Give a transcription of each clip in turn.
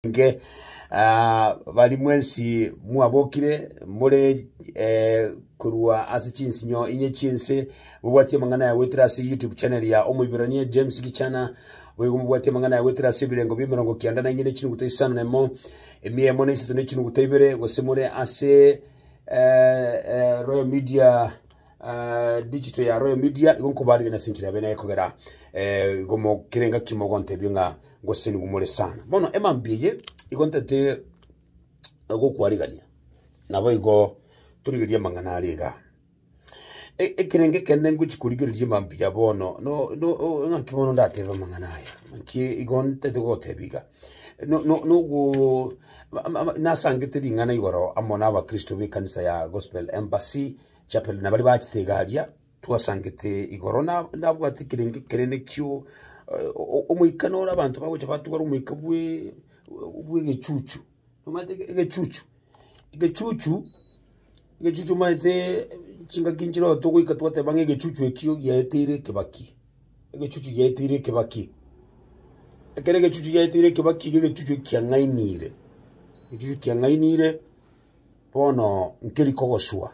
Inche bari mwensi mwabokire more korwa ase chinsinyo inye chi'ense, mobwatie amang'ana aya goetera ase YouTube channel ya Omoiborania James Gichana, boigo mobwatie amang'ana aya goetera ase ebirengo bi'emerongo kianda na inye ne chinuguta isano na emo, emiya emo na isato ne chinuguta ibere, gose more ase Royal Media Digital ya Royal Media igo nkobaarigeria ase enchera yabeene kogera igo kera engaki mogontebia ng'a ngosesenigwe more sana. Bono emambia eye igo ntete gokwarigania nabo igo torigereria amang'ana are igaa. Ekerengo ekende ngochi korigereria emambia bono ng'aki bono ndatebe amang'ana aya? Naki igo ntete gogotebia iga, nasangete ring'ana igoro amo na abakristo b'ekanisa ya Gospel Embassy Chapel na baria bachete egaria twasangete igoro na nabwate kerenge kenene kio eh, o- omoika nore abanto bagocha batugara omoika bwe bw'egechuchu omanyete ege- egechuchu egechuchu egechuchu omanyete chingaki nchireo togoika twateba ng'a egechuchu ekio giaeteire ekebaki egechuchu giaeteire ekebaki ekero egechuchu giaeteire ekebaki iga egechuchu ekiang'ainire egechuchu kiang'ainire Bono nkeri kogoswa,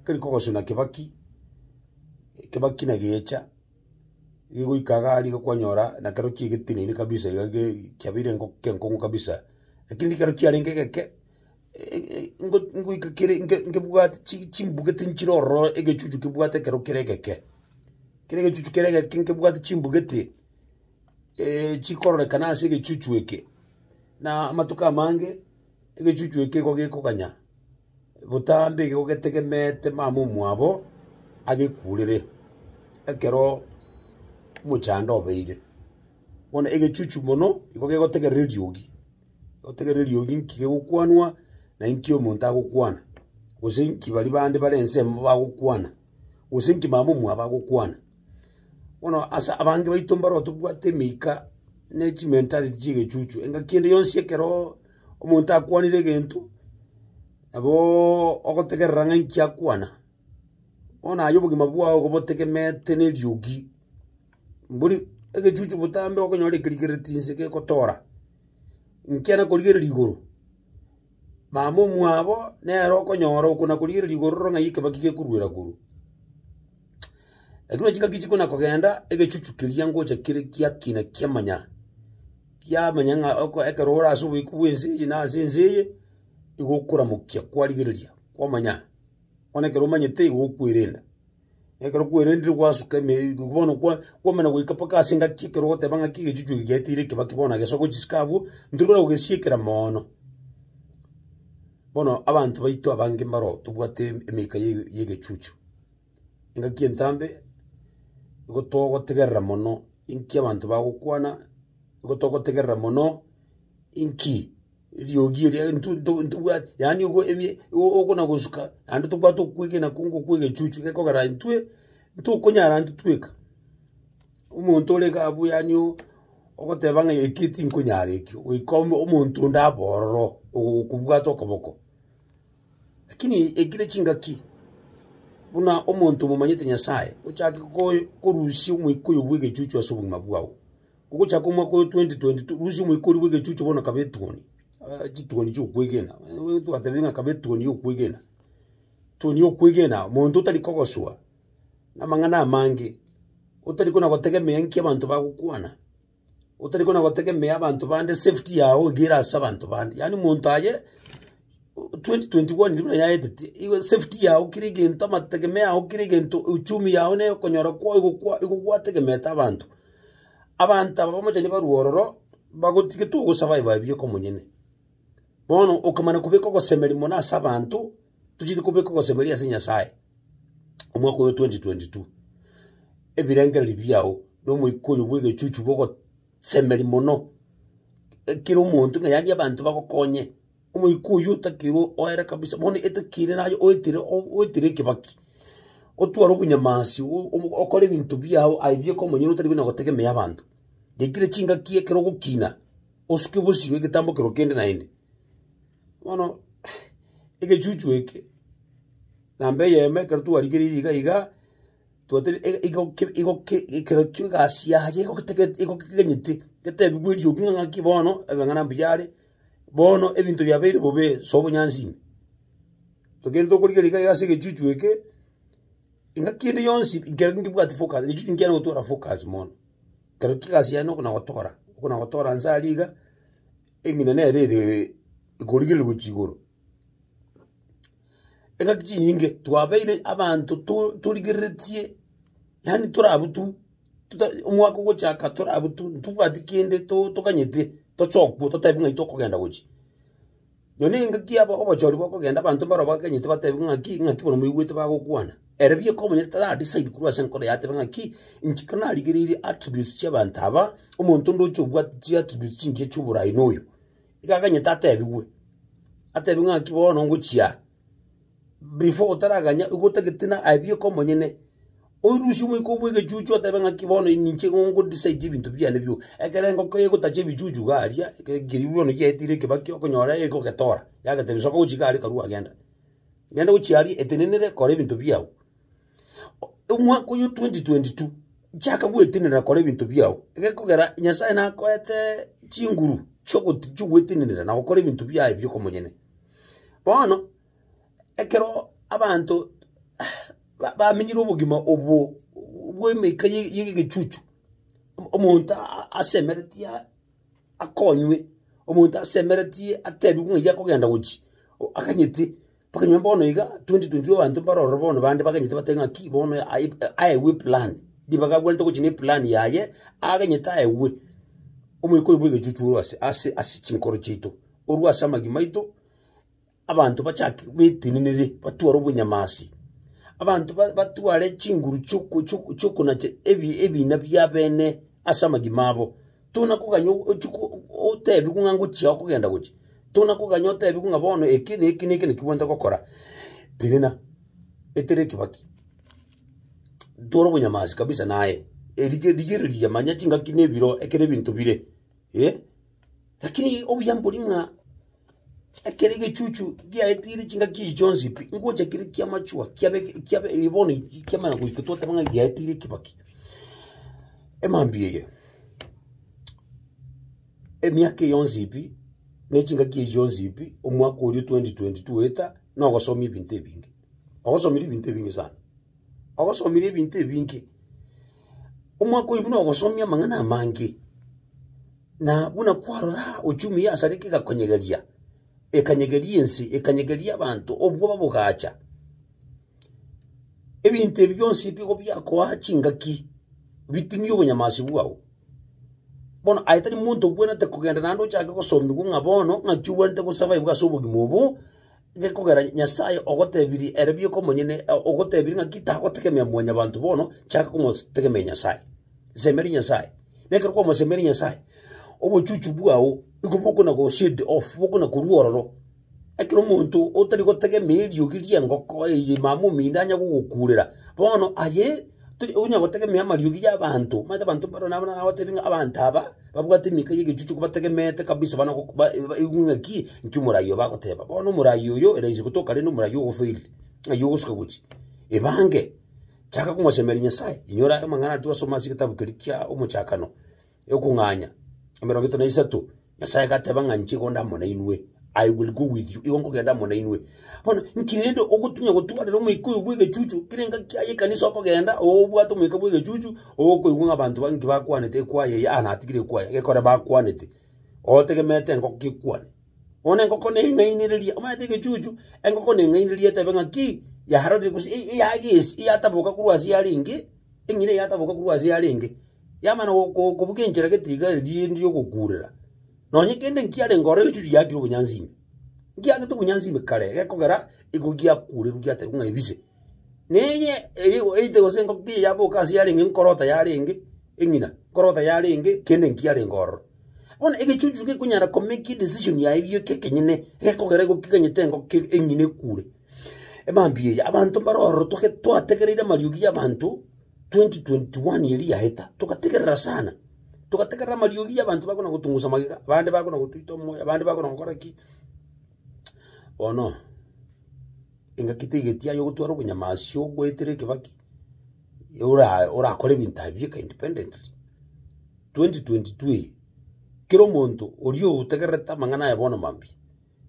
nkeri kogoswa na kebaki, ekebaki nagecha, gegoika iga aria iga kwanyora nakero kigeteneniri kabisa iga ge kiabeire enko kenkong'u kabisa. Lakini ekero kiarenge egeke ingo ingoika kere inge ingebwate chi chimbugete nchire ororo egechuchu kebwate ekero kere egeke. Kere egechuchu kere egeke nkebwate chimbugete chikororekana ase egechuchu eke na amatuko amange. Egechuchu eke nigo gekoganya botambe igo getegemeete mama omwabo agekuurere ekero omochando obeire. Bono egechuchu mono nigo gegotegerera eriogi, gegotegerera eriogi nki gegokwanwa na nki omonto agokwana, gose nki baria bande bare ensemo bagokwana, gose nki mama omwabo agokwana. Bono ase abange baito mbaroo tobwate emika ne chimentality chi'egechuchu, engaki ende yonsi ekeroo omonto akwanire egento, naboooo ogotegerera ng'a inki akwana, bono aye obogima bwao igo botegemeete na eriogi, bori egechuchu botambe okonyora ekerigereti inse gegotora, inkiana korigereria igoro. Mama omwabo nere okonyora oko na korigereria igoro roro ng'ai ekebaki gekoruera korwa. Ekero chingaki chikona kogenda, egechuchu keria ngocha kere giakina kiamanya, kiamanya ng'a oko ekero ore ase oboiku bwa ense eye na ase ense eye, igo okoramokia kwarigereria kwamanya, bono ekero omanyete igo okwerenda. Ekero kwerendire gwasuka emeeri iko bono kwa- kwamana goika mpaka ase engaki ekero ogoteba ng'aki egechuchu eke giateire ekebakeba bono na gesogo chisike abwo, ntorikona kogesiekera moono. Bono abanto baito abange mbaro tobwate em- emeika ya ege- ya egechuchu. Engaki entambe, igo togotegerera mono inki abanto bagokwana, igo togotegerera mono inki. eriogi eria nto nto ntobwati yaani ogo ebie igo okona gosuka naende tobwate okwegena kongo kwa egechuchu gekogera intwe ntokonyara intwe tweka. Omonto ore iga abwo yaani o- ogoteba ng'a eki tinkonyara eki goika omo omonto onde abe ororo ogokobwata okoboko. Lakini ekire chingaki buna omonto omomanyete nyasaye ochake koe korusia omoika oyo bwa egechuchu ase obogima bwao. Ogochaka omwaka oyo 2022, Russia omoikori bw'egechuchu bono akaba etuoni, ah, chituoni chi'okwegena, Eh, twatebire ng'a akaba etuoni y'okwegena. Etuoni y'okwegena, monto otari kogosoa namang'ana amange, otari kona gotegemea nki abanto bagokwana, otari kona gotegemea abanto bande safety yago iga ere ase abanto bande, yaani monto aye o- 2021 ribuna yaeteti, igo esafety yago kera egento amategemeo yago kera egento, euchumi yago na okonyora kwago igokwa igokwategemeete abanto. Abanto aba bamochani barue ororo, bagotiga titogosaba aye babie komonyene. Bono okomana kobeka ogosemeria mono ase abanto, tocheti kobeka ogosemeria ase Nyasae, omwaka oyo 2022. Ebirengererio biao na omoika oyo bw'egechuchu bogosemeria mono, ekero omonto ng'a yaria abanto bagokonye, Omoika oyio otakeirwe oere kabisa, bono etakiri naye oetire o- oetire ekebaki, otware obonyamasi o- obo okore ebinto biago aye bieka omonyene otari buna gotegemea abanto. Gekire chingaki ekero ogokina, osuke bosio egetambo kero kende naende. Bono egechuchu eke, namba eyemo ekero twarigereiri iga iga, twatari e- igoki igoki ekero chio egasi yaye egoketagete egokeganyete, getebiwa eriogi ng'a ng'aki bono ebeng'ana mbiyare, bono ebinto biabeire bobe sobonyansi ime. Togende tokorigereria iga iga ase egechuchu eke, engaki ende yonsi ekero nkebwati focus, egechuchu nkiare gotwara focus mono. Ekero ki egasi yane okona gotora, okona gotora nse aria iga, eng'ina nere ere ekorigereria gochia igoro. Engaki chinyinge, twabeire abanto to- torigereretie, yaani tore abwo tu. Tuta- omwaka ogochaka tore abwo tu ntobwati kende to- tokanyete toche okwo totebi ng'ai tokogenda gochi. Nonye na engaki yabo obochori bokogenda abanto mbarabwo bakonyete batebi ng'aki ng'aki bono moigwete bagokwana. Ere bieka omonyene tara decide korwa ase enkoro yaye atebe ng'aki inche ekero narigereiri attributes chiabanto aba, omonto onde oche obwate chiattributes chingiya chioborai noyo. Iga akanyete atebigwe, atebigwe ng'aki bono ngochia aa. before otaraganya igo otagete na abieka omonyene, oirusie omoika obwo egechuchu otebe ng'aki bono ninche igo ngodecide ebinto biane bioka. Ekero engoko egotacha ebichuchu iga aria, ekero keribu bono giaetire ekebakio, okonyora egogetora, yagetebia soka gochia iga aria karue agende. Genda gochia aria etenenere kora ebinto biao. O- omwaka oyo 2022, chaka goetenena kora ebinto biao, egekogera Nyasaye nakoete chinguru chiogoti chiogwetenenera na gokora ebinto biaye bioka omonyene. Bono, ekero abanto ba- bamenyire obogima obwo bw'emeika ye y'egechuchu, o- omonto a- asemeretie a- akonywe, omonto asemeretie atebiwe ng'a eyi akogenda gochia, o- aganyete, mpaka onye bono iga twenty twenty two abanto mbare ororo bono bande baganyete batebi ng'a ki bono aye aewe eplan, ribaga abwenerete gochia na eplan yaye, aganyete aewe omoika oyo bw'egechuchu orwe ase ase ase chinkoro chiaito. korwa ase amagima aito, abanto bachake betenenere, batware obonyamasi, abanto ba- batware chinguru chi'oko- chi'oko- chi'okonacha ebi- ebina bia bene ase amagima abo. Tonakoganya o- ochi ko- otebigwe ng'a ngochia okogenda gochia, tonakoganya otebigwe ng'a bono eke na eke na eke naki bwenta gokora, tenena, etera ekebaki, twara obonyamasi kabisa naye, erige rigereria manya chingaki na ebiro, ekere ebinto bire eh. Lakini obuya mbori ng'a ekero egechuchu giaetire chingaki echi chionsi pi, ngocha kere kia machua kiabe kiabe eh, bono ki- kiamana goika twateba ng'a giaetire ekebaki. Emambia eye, emiaka eye yonsi pi, na echingaki echi chionsi pi, omwaka oria o 2022 goeta, na ogosoma ebinto ebinge. Ogosomire ebinto ebinge sana, ogosomire ebinto ebinge. Omwaka oyio buna ogosomia amang'ana amange, na buna kwarora uchumi ya asareke egakonyegeria, ekanyegeria ense, ekanyegeria abanto, obwoba bogacha. Ebinto ebi bionsi mbigo biakoa chingaki, biting'ie obonyamasi bwao. Bono aye tari monto obwenerete kogenda naende ochake gosomigwa ng'a bono ng'aki obwenerete gosurvive ase obogima obo. Inche kogera Nyasae ogotebirie ere bieka omonyene, ogotebirie ng'a ki tagotegemea mwanyabanto bono, chaka komotegemea Nyasae. Semeria Nyasae. Na ekero kwamosemeire Nyasae, obochuchu bwao nigo bokona go shade off, bokona korwa ororo. Ekero omonto otari gotegemea eriogi ri'engoko eye mama omino anya gogokurera, bono aye, tari onya gotegemea amariogi y'abanto, omanyete abanto mbaro nabo nagotebie ng'a abanto aba. Babwate emika y'egechuchu kobategemeete kabisa bana gok- ba- ba- baigwe ng'aki nki omoraai oyo bagoteba. Bono omoraai oyo eraisi gotoka rende omoraai ogofail, ng'ai ogosuka gochia. Ebange, chaka komosemeria Nyasaye, inyora amang'ana aria twasoma ase egetabu keria kia Omochakano, ekong'anya, emerongo etato na isato, Nyasaye gateba ng'a inche igo ndamo nainwe. I will go with you, igo nkogenda amo nainwe. Bono inki rende ogotunya gotwarera omoika oyo bw'egechuchu? Kera engaki yaye ekanisa okogenda, obwate omoika bw'egechuchu, okoigwa ng'a abanto ba- inki bakwanete ekwaya eye, aa natigire ekwaya, gekore bakwanete, otegemeete engoko gekwane. Bono engoko neye eng'ainereria, omanyete egechuchu, engoko na eng'ainereria etebe ng'aki, yarorire gose e- e- yagesi, yataboka korwa ase yarenge, eng'ina eye yataboka korwa ase yarenge, yamana go- go- kobuga enchera gete iga riri riogokurera. Nonya kende nkiarenge ore egechuchu giakire obonyansi ime, ngiagete obonyansi ime kare gekogera igo giakurerwe giaterigwa ng'a ebise. Na eye eye eite gose engoko eye yaboka ase yarenge nkorota yarenge eng'ina, nkorota yarenge kende nkiarenge ororo. Bono egechuchu gekonyara komeki edecision yaye gio kekenyene, gekogera igo keganyete engoko keri eng'ina ekure. Emambia eye, abanto mbare ororo toge twategereire amariogi y'abanto twenty twenty one eria yaeta, togategerera sana. togategerera amariogi y'abanto bakona gotong'usa magega, abande bakona gotoita omoyo, abande bakona gokora ki. Bono, engaki taigeti yaye ogotwara obonyamasi ogoetera ekebaki, ora orakore ebinto aye bieka independently. 2022 eye, kera omonto oria otegererete amang'ana aye bono mambia.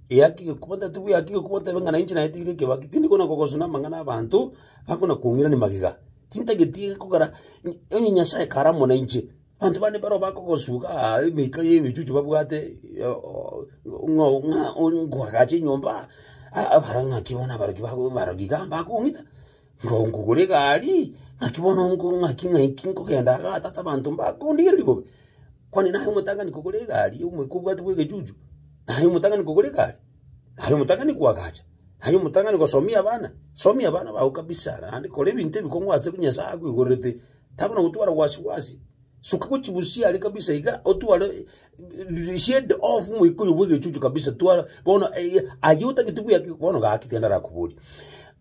Eakige kuba tari tobua eakige kuba otebe ng'a nainche naetigire ekebakigwa, tindi kona kogosu na amang'ana abanto bakona kong'irani magega, tintageti kogera nyi onye Nyasae kare amo nainche, abanto bande baroo bakogosuka aa emeka ya ebichuchu babwate oo ng'a oo ng'a oo nkwagache enyomba aa abara ng'aki bono abaroki bago baroki igaa mbakong'ita. Nkongugura egari, ng'aki bono nko ng'aki ng'aki nkogenda igaa tata abanto mbakondigereria bobe. Kwani naye omotang'ani kogora egari omoika obwate bwa egechuchu, naye omotang'ani kogora egari? Naye omotang'ani koagacha? Naye omotang'ani gosomia abana? Somia abana bao kabisa naende kora ebinto ebikong'u ase bi Nyasae akoigorerete, takona gotwara wasi wasi. Suka gochia bosio are kabisa iga, otware shade off moikoyo bwegechuchu kabisa twara bono eh, aye otagete buyaki bono gaki tiga ndarakoboria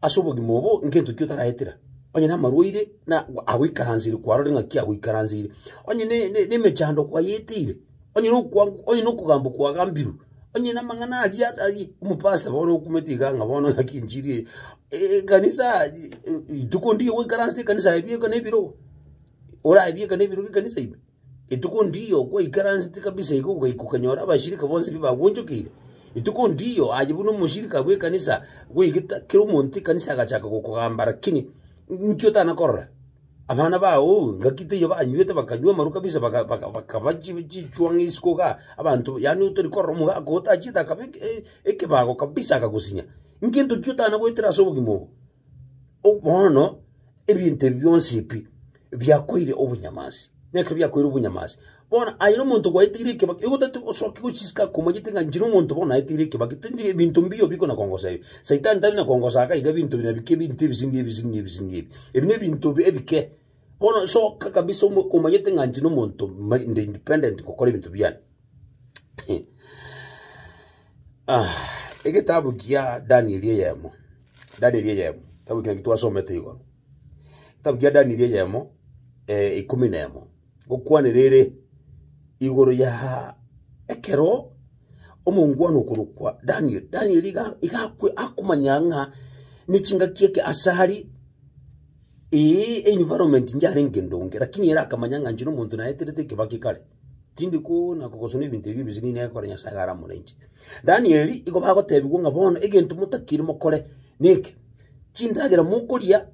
ase obogima obo ngento ki otaraetera onye namarwaire na agoikaranseire kwarore ng'aki agoikaranseire onye ne- ne- nemechando kwayeteire onye nokwangu onye nokogamba kwagambirwe onye namang'ana aria aria omopasta bono okumete iga ng'a bono ng'aki enchiri eye Eh, ekanisa rituko ndiyo goikaransete ekanisa aye bieka nebirogo oraye bieka nebirogo ekanisa ime. Rituko ndiyo kwaikaransete kabisa igo ogaika okanyora abashirika bonsi bi bagwonchokeire. Rituko ndiyo aye buna omoshirika bw'ekanisa goigeta kera omonto ekanisa agachaka gokogamba lakini inki otana korora? Abana bao ngaki taiyo banywete bakanywa amaru kabisa baka baka bakaba chi chichwang'a isiko igaa abanto yaani otori korora omogaka otachiete akaba eke- e- ekebago kabisa akagosinya. Inki entoki otana goetera ase obogima obo? Bono ebinto ebi bionsi ebi biakoire obonyamansi, nekero biakoire obonyamansi, bono aye na omonto gwaeteire ekebakera, igo tati osoki gochisika komanyete ng'a inche na omonto bono naeteire ekebakera, tindi ebinto mbio biko na kongosa ebi. Saitani tari na kongosa iga ebinto bire nabikio ebinto ebising'ia ebising'ia ebising'ia ebi. Ebi na ebinto bi- ebike. Bono soka kabisa omo- omanyete ng'a inche nomonto ma- inde independent gokora ebinto biane. egetabu kia Danieli eyemo, Danieli eyemo, kitabu ekio naki twasomete igoro, kitabu kia Danieli eyemo ikomi na emo, gokwanera ere igoro ya ekero omongwana okorokwa Daniel, Daniel iga iga akwe akomanya ng'a ne chingaki eke ase are Ee, environment inche yarenge ndonge, lakini ere akamanya ng'a inche nomonto naeterete ekebake kare, tindi koona kogosoma ebinto ebi ebise nigo nekogokora Nyasae iga aramore inche. Danieli igo bagotebigwa ng'a bono egento motakiri mokore neke, chindagera mokoria,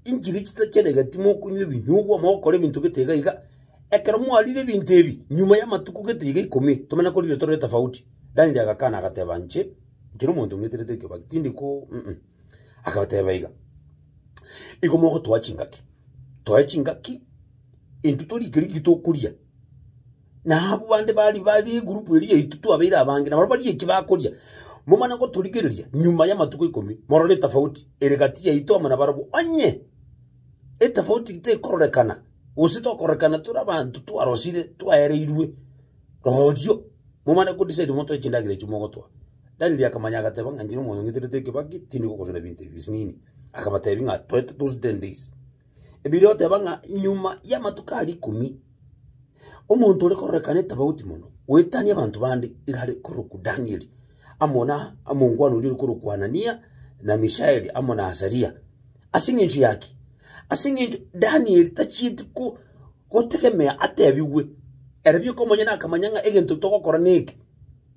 inchiri chitachenegeti mokonywa ebinyugwa, mogokora ebinto gete iga iga, ekero mwarire ebinto ebi, nyuma y'amatuko gete iga ikomi, tomenye korire tore etafauti. Danieli agakana agateba inche, inche nomonto ng'eterete ekebake, tindi ko, uh-uh. Akabateba iga, Igo mogotoa chingaki, toe chingaki, intwe torike rigie tokoria, na abwo bande bari bari egurupu eria yaito twabeire abange, nabarabwo barie eki bakoria. Momanye gotorigereria nyuma y'amatuko ikomi, morore etafauti ere gati yaito amo nabarabwo. Onye etafauti tekororekana, gose tokororekana tore abanto twarosire twaereirwe, rorio momanye go decide motoe chindagera echio mogotoa. Danieli akamanya, agateba ng'a inche nomonto ng'eterete ekebaki, tindi gokosora ebinto ebi bionsi nini. Akabatebia ng'a toete those ten days. Ebiria oteba ng'a nyuma y'amatuko aria ikomi, omonto ore kororekana etofauti mono, goetania abanto bande igare korokwa Danieli, amo na omongwana oria ore korokwa Hanania, na Mishaeli, amo na Azaria. Ase eng'encho ya ki? Ase eng'encho Danieli tachieti ko gotegemea atebigwe. Ere bieka omonyene akamanya ng'a egento togokora neke.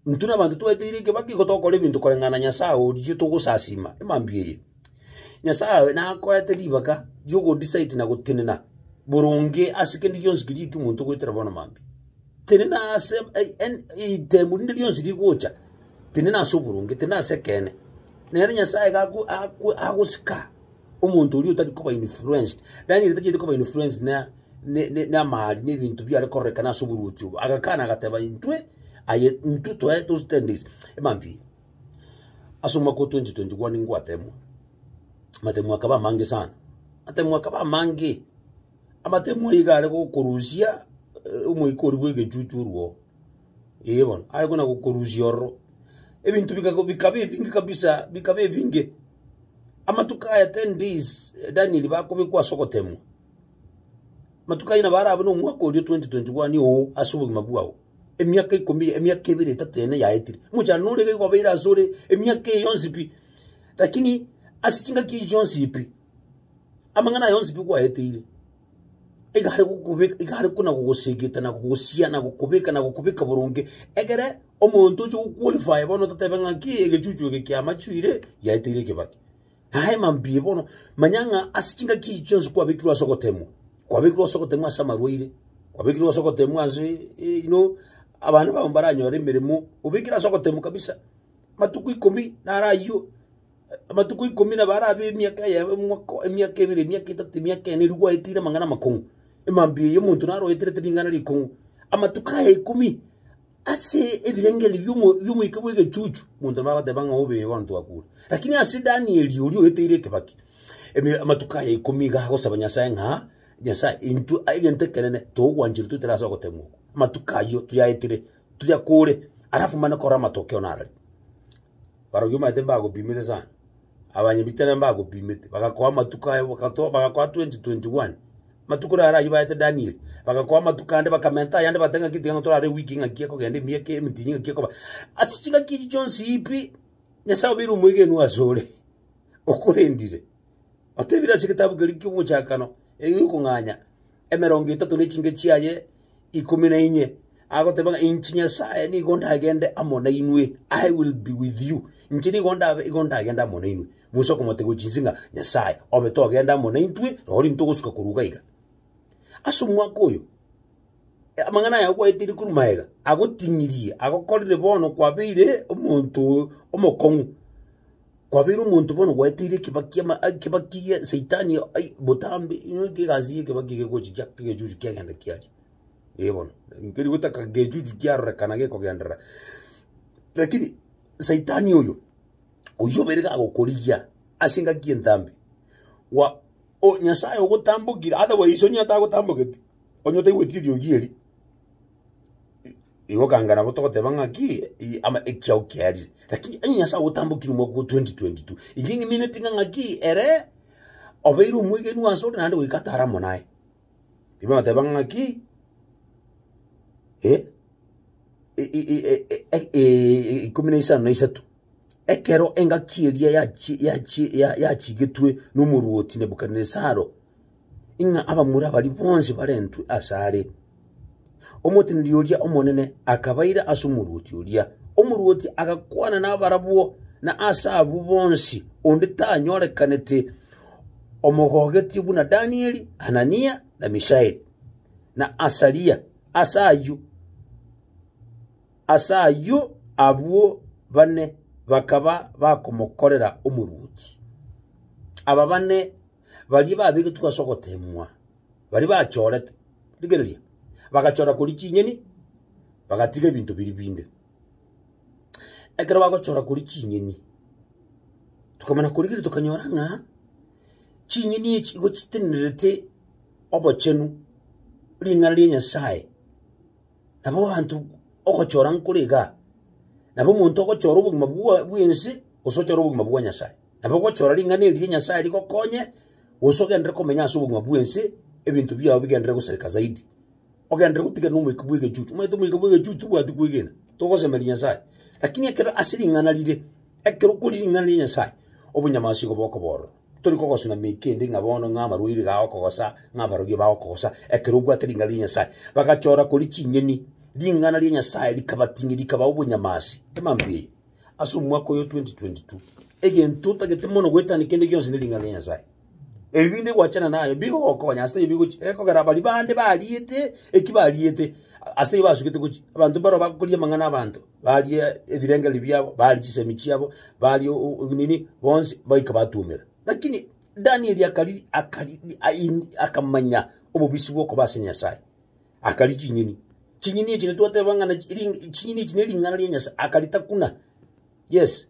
Intwe nabanto tweteire ekebakio igo tokora ebinto koreng'ana na Nyasae oria togosasima. Emambia eye. Nyasae nakoete ribaga ri'ogodecide na gotenena boronge ase kende gionsi keria ekio omonto ogoetera bono mambia. Tenena ase eh, en- ritemu rinde rionsi rigocha, tenena ase oboronge, tenena ase ekeene. Nere Nyasae iga ago- ago- agosika omonto oria otari koba influenced. Daniel tachieti koba influenced na. n'amaari, n'ebinto biare kororekana ase oboruoti obo. Agakana agateba, Intwe aye, intwe toe togitendeise emampia eye. Ase omwaka o 2021 ngwatemwa, amatemu akaba amange sana, amatemu akaba amange, amatemu aya iga are gokorusia omoika oria bwa egechuchu orwoo, ee bono, are buna gokorusia ororo. Ebinto bikago bikaba ebinge kabisa, bikaba ebinge. Amatuko aya ten days Daniel bakobekwa ase ogotemwa. Amatuko ayio nabo arabe nomwaka oria o 2021 oo ase obogima bwao, emiaka ikomi eye, emiaka ebere etato ene yaetire. Omochando nore iga igobeire asore emiaka eye yonsi pi, rakini ase chingaki echi chionsi pi, amang'ana aya onsi pi kwaeteire, iga are gokobeka iga are kona gogosegeta na gogosia na gokobeka na gokobeka boronge, egere omonto oche goqualify bono totobe ng'a ki egechuchu eke kiamachuire yaeteire ekebakire. Aye mambie bono, manya ng'a ase chingaki echi chionsi kwabekirwe ase ogoteemwa. Kwabekirwe ase ogoteemwa ase amarwaire, kwabekirwe ase ogoteemwa ase you know, abana bao mbaranyore emeremo, obekire ase ogoteemwa kabisa. Amatuko ikomi naro ayio, amatuko ikomi nabo ara be emiaka eye omwaka emiaka ebere, emiaka etato, emiaka ene, riria gwaetire amang'ana amakong'u. Mambia eyi omonto naro oeterete ring'ana rikong'u, amatuko aya ikomi. Ase ebirengererio bi'omo- bi'omoika bw'egechuchu monto nabagoteba ng'a obe igo ntwakure. Lakini ase Danieli oria oeteire ekebaki, eme amatuko aye ikomi iga agosaba Nyasae ng'a, Nyasae, intwe a- egento ekenene togokwanchire toetere ase ogoteemwa okwo, amatuko ayio toyaetire, toyakore, alafu mane korora amatokeo narareo. Barabwo omanyete mbagopimete sana, abanyabitari mbagopimete, bagakoa amatuko aye, bagato- bagakoa 2021 amatuko naro ayio baete Daniel, bagakoa amatuko ande bakamenta ayande bateba ng'aki tiga torare ewiki ng'aki ekogenda emiaka emitini ng'aki ekoba. Ase ching'aki echi chionsi pi, Nyasae obeire omwegenwa asore, okorendire, otebire ase egetabu keria ki'omochakano, egiokong'anya. emerongo etato ne chinke chiaye ikomi na inye, agoteba ng'a inche Nyasae nigo ndagende amo nainwe, I will be with you. Inche nigo ndabe igo ndagende amo nainwe. Musa okomotebi chinse ng'a, Nyasae, obe togende amo naintwe, noro ntogosuka korwa iga iga. Ase omwaka oyo, amang'ana aya ogwaeteire korwa magega, agotinirie, agokorire bono kwabeire omonto omokong'u. Kwabeire omonto bono gwaeteire ekebakio ama ekebakio gie saitani ai botambe inwe ki egasi ya ekebakio egegochi gia egechuchu kiagenda kiaria. Ee bono nkeri gotaka gechuchu kiarorekana gekogenderera. Rakini saitani oyo, oyio obeire gagokorigia ase engaki entambe gwa o Nyasaye ogotambokire otherwise onye atagotamboketi onye otaigweti rirorio riaye erio. Igo okanga nabo togoteba ng'aki i- ama ekiao kiarire, lakini onye Nyasae agotambokire omwaka o 2022, inche ng'imineti ng'a ng'aki ere obeire omwegenwa asore naende goika atare amo naye. Riria bagoteba ng'aki eh, i- i- i- e- e- e- e- ikomi na isano na isato, ekero engaki eria yachi yachi ya- yachigetwe nomoruoti Nebukadnesaro. ing'a abamura baria bonsi barentwe asare. Omoteneneri oria omonene akabaira ase omorwoti oria. Omorwoti agakwana nabarabwo, na ase abwo bonsi onde tanyorekanete omogogetie buna Danieli, Hanania, na Mishaeli, na Asaria. Ase ayio ase ayio abwo bane bakaba bakomokorera omorwoti. Aba bane baria babegetwe ase ogoteemwa, baria bachoorete, rigereria, bagachoora koria chinyeni, bagatiga ebinto biria binde. Ekero bagochoora koria chinyeni, tokamanya korigiria tokanyora ng'a chinyeni echi igo chitenerete obochenu ring'ana ria Nyasaye. nabo abanto ogochora nkore iga, nabo omonto ogochora obogima bwa bwense, gose ochore obogima bwa Nyasae. Nabo ogochora ring'ana eri ria Nyasae rigokonye, gose ogenderere komenya ase obogima bwense, ebinto biao bigenderere gosareka zaidi. Ogenderere gotigana na omoika bw'egechuchu, omanyete omoika bw'egechuchu tobwati kwegena, togosemeria Nyasae. Lakini ekero ase ring'ana rire, ekero okori ring'ana ria Nyasae, obonyamasi igo bokoba ororo. Tori kogosuna mei kende ng'a bono ng'a amarwaire iga agokogosa, ng'a abarogi iba agokogosa, ekero obwate ring'ana ria Nyasae. Bagachora koria chinyeni, ring'ana ria Nyasae rikabating'ia, rikabaa obonyama ase emambia eye. Ase omwaka oyo 2022, egento otagete mono goetania kende gionsi ne ring'ana ria Nyasae. Ebi binde gwachana naye bigogokonya ase ebi gochi, ekogera baria bande bariete eki bariete, ase eyio basugete gochi, abanto mbaro bagokoria amang'ana 'abanto. barie ebirengererio biabo barie chisemi chiabo barie o- o- nini bonsi baika batuomera lakini danieli akari akari ai- akamanya obobisi bwokoba ase nyasaye akari chinyeni chinyeni echi nitwateba ng'a na- ring- chinyeni echi nering'ana ria nyasaye akaritakuna yes.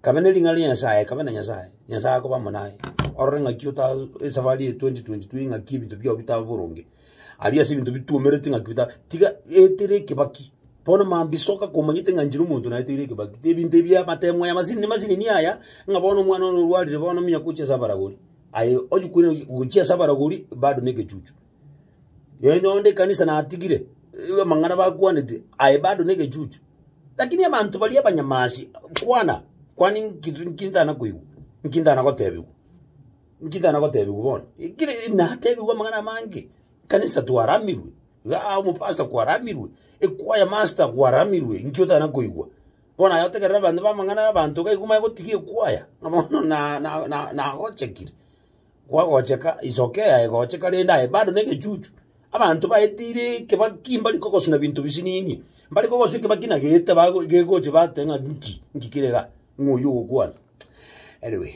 Kabe ne ring'ana ria Nyasaye, kabe na Nyasaye, Nyasaye akoba amo naye. Orore ng'aki ota esafari eye 2022 eye ng'aki ebinto biao bitabe boronge. Aria ase ebinto bituomerete ng'aki bita tiga etera ekebaki, bono mambia soka komanyete ng'a nchire omonto naeteire ekebaki. Ebinto ebi amatemo aya masini masinini aya, ng'a bono omwana one orwarire bono ominyoka oche ase abaragori, aye onye kweri gochia ase abaragori bado negechuchu. Nonya onde ekanisa natigire, eh, amang'ana bakwanete, aye bado negechuchu. Lakini abanto baria abanyamasi, kwana, kwani nki nki ntana koigwa? Nki ntana gotebiwa? Nki ntana gotebiwa bono? Ekire natebiwa amang'ana amange, ekanisa twaramirwe, igaa omopasta kwaramirwe, ekwaya master kwaramirwe, nki otana koigwa? Bono aye otegerera abanto bamang'ana abanto gaiku bagotiga ekwaya, ng'a bono na- na- na- nagochekire. Kwagocheka, isoka eye ayegocheka rende aye bado negechuchu. Abanto baetiire ekebaki mbari kogosuna binto bisiniini, mbare kogosua ekebaki na gete bago gegocha bateba ng'a nki, nki kere igaa, ng'a oywo ogokwana. Anyway,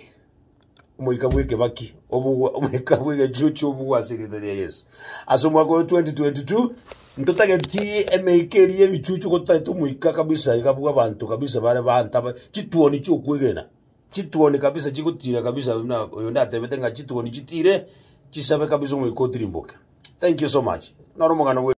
omoika bw'ekebaki obugwa omoika bw'egechuchu obugwa ase erieta ria Yeso. Ase omwaka oyo 2022, ntotageti emeika eria y'ebichuchu gototagete omoika kabisa iga bw'abanto kabisa bare baantabe chituoni chi'okwegena. Chituoni kabisa chigotira kabisa na oyo ndatebete ng'a chituoni chitire chisabe kabisa omoika otirimboke. Thank you so much. Noro omogano bwe.